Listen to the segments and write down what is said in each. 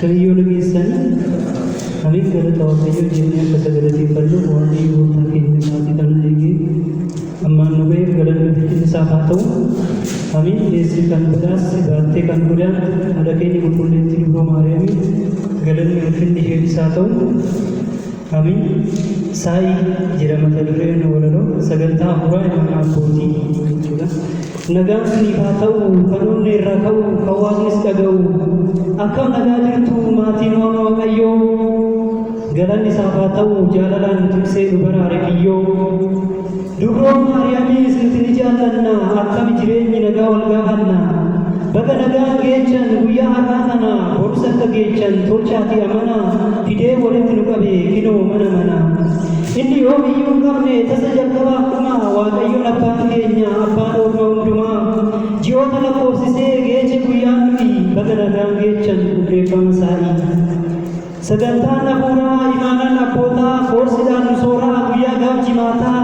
Kaayyoon keessan Amin galata Waaqayyoo jennee akka isa galateeffannuuf Waaqayyo gooftaan keenya sa'aatii kana eegee ammaan nu ga'eef galanni ulfinni isaaf haa ta'u. Amin deesse kan badhaasse baattee kan godaante haadha keenya qulqulleettii dubroo Maariyaamiif galanni ulfinni isheefis haa ta'u. Amin saa'ii jira mata dureen walaloo sagantaa hafuuraa imaanaa abbootii jechuudha. Nagaan siniif haa ta'u kan onnee irraa ka'u kan waaqnis dhaga'u akkam nagaa jirtu maatiin waan waaqayyoo galanni isaaf haa ta'u jaalalaan tiksee nu baraare kiyyoo durroon maariyaamii isinti ni jaallanna akkami jireenyi nagaa wal gaafanna baga nagaan geechan guyyaa har'aa kana borus akka geechan tolchaatii amana fidee walitti nu qabe kinoo mana mana Inni yoom iyyuu hin dhumne, tasa jalqabaa fi dhuma, Waaqayyoon Abbaan keenya, Abbaan Orma hundumaa, ji'oota lakkoofsisee geeche guyyaa nuti baga nagaan geechan hundeeffama isaa'ii. Sagantaan hafuuraa, imaanaan abbootaa, koorsidhaan nu sooraa guyyaa gaaf jimaataa,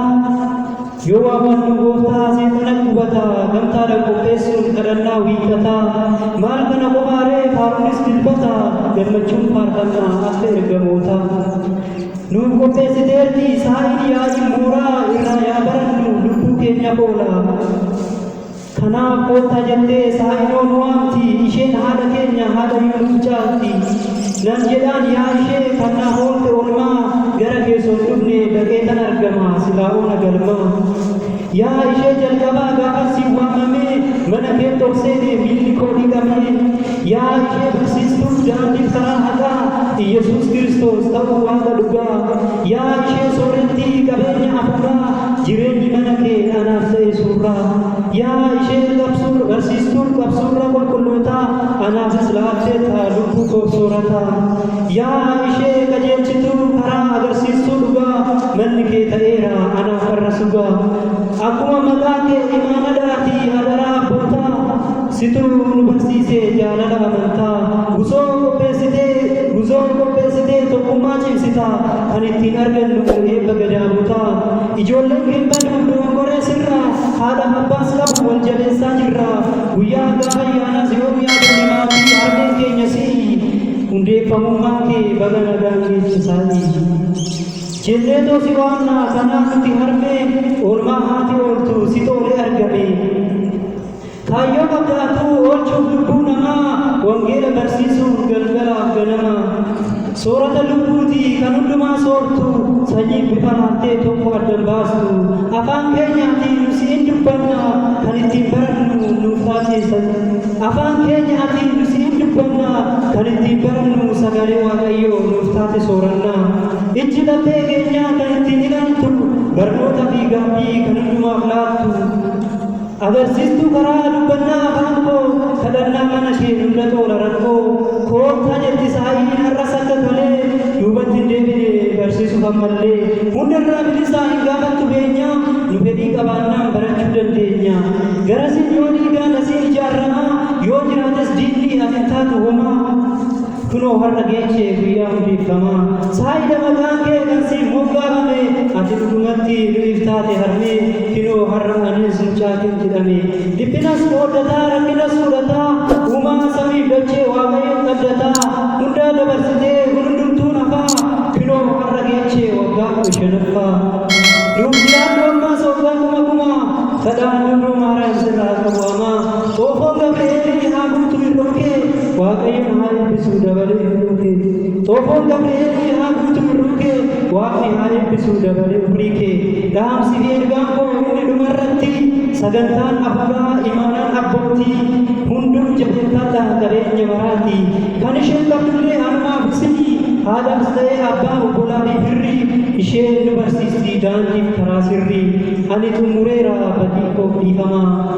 Yoo waammannu Gooftaa Azeeta nan gubata Gamtaadhan qopheessuun kadhannaa Wiixata Maal kana kophaa ree faaruunis Dilbata Gammachuun faarfanna akka ergamoota Nuuf qopheessiteerti saa'iin yaa'iin mooraa Irraa yaa barannu lubbuu keenya oola. Kanaaf koottaa jettee Saa'idoo nu waamti, isheen haadha keenya, haadha iyyuu nuuf caalti. Nan jedhaan yaa ishee kan na hoolte olmaa, gara kee son dhufne dhaqeetan argama, silaa oona galmaa. Yaa ishee jalqabaa gaafan si waamamee, mana keetti ol seene miilli koo dhiqamee. Yaadni barsiistuu daandii karaa haqaa Iyyasuus Kiristoos ta'uu Waaqa dhugaa. Yaa ishee soorettii qabeenya hafuuraa jireenyi mana kee anaaf ta'e suurraa. Yaa ishee qabsuur barsiistuur qabsuurra qulqullootaa anaafis laatteetta lubbuu koof soorataa. Yaa ishee qajeelchituu karaa agarsiistuu dhugaa manni kee ta'eera anaaf har'a sugaa. Akkuma maqaa kee imaanadaatii adaraa abbootaa. Situ nu barsiise jaalala amantaa Guzoo qopheessitee Guzoo qopheessitee Tokkummaa cimsita Kan ittiin argannu eebba gadaamotaa Ijoolleen keen badu dogongoree sirraa Haadhaf abbaas qabu wal jabeessaa jirra Guyyaa haggaa ayyaanaas yoom yaadanne maatii Harmeen keenya si'i Hundeeffamummaa kee baga nagaan geeche saatii Jenneetoo si waamna kanaaf nuti harmee Oolmaa haati ooltu situ olee argame Kaayyoon abdaattuu oolchuuf lubbuu namaa wangeela barsiisuuf galgalaaf ganama soorata lubbuuti kan hundumaa soortu sanyiif bifa laattee tokko addan baastu afaan keenyaatiin nu siin dubbanna kan ittiin barannu nuuf taasisa afaan keenyaatiin nu siin dubbanna kan ittiin barannu sagalee waaqayyoo nuuf taate sooranna ijji laphee keenyaa kan ittiin ilaaltu barnoota fi gaabbii kan hundumaaf laattu Agarsiistuu karaa dubbannaa afaan koo kadhannaa mana ishee dugda toora rakkoo koottaa jetti saayiin har'as akka kalee duubatti hin deebine barsiisuuf ammallee hunda irraa bilisaa hin gaafattu beenyaa nu fedhii qabaannaan barachuu dandeenya garasiin yoo dhiigaan asiin ijaaramaa yoo jiraates diinni as hin taatu homaa Kunoo har'a geenye guyyaa hundeeffamaa saayida maqaan kee kan siif moggaafame ati dhugumatti nuyiif taate harmee kinoo har'a anis mucaatiin jedhame dhiphinas qooddataa rakkinas fudhataa uumaa samiif dachee waaqayyoon abdataa hundaa dabarsitee kun hundumtuun hafaa kinoo har'a geenye waggaa kudha shanaffaa nuuf jiraadhu ammaas waggaa kuma kumaa kadhaan hunduu maaraam sirraa qabu amaa Xoofoo Gabree eebbi haa guutu irroo kee waaqayyoon haa eebbisuu dabalee irroo kee Xoofoo Gabree eebbi haa guutu irroo kee waaqni haa eebbisuu dabalee umrii kee dhaamsi fi ergaan koo inni dhumarratti sagantaan afuuraa imaanaan abbootii hunduu jabeeffataa qabeenya baraati kan isheen qabdullee hanumaaf isinii haadhaas ta'ee abbaa obbolaa fi firri isheen nu barsiisti daandiif karaa sirrii ani xumureera badii koof dhiifamaa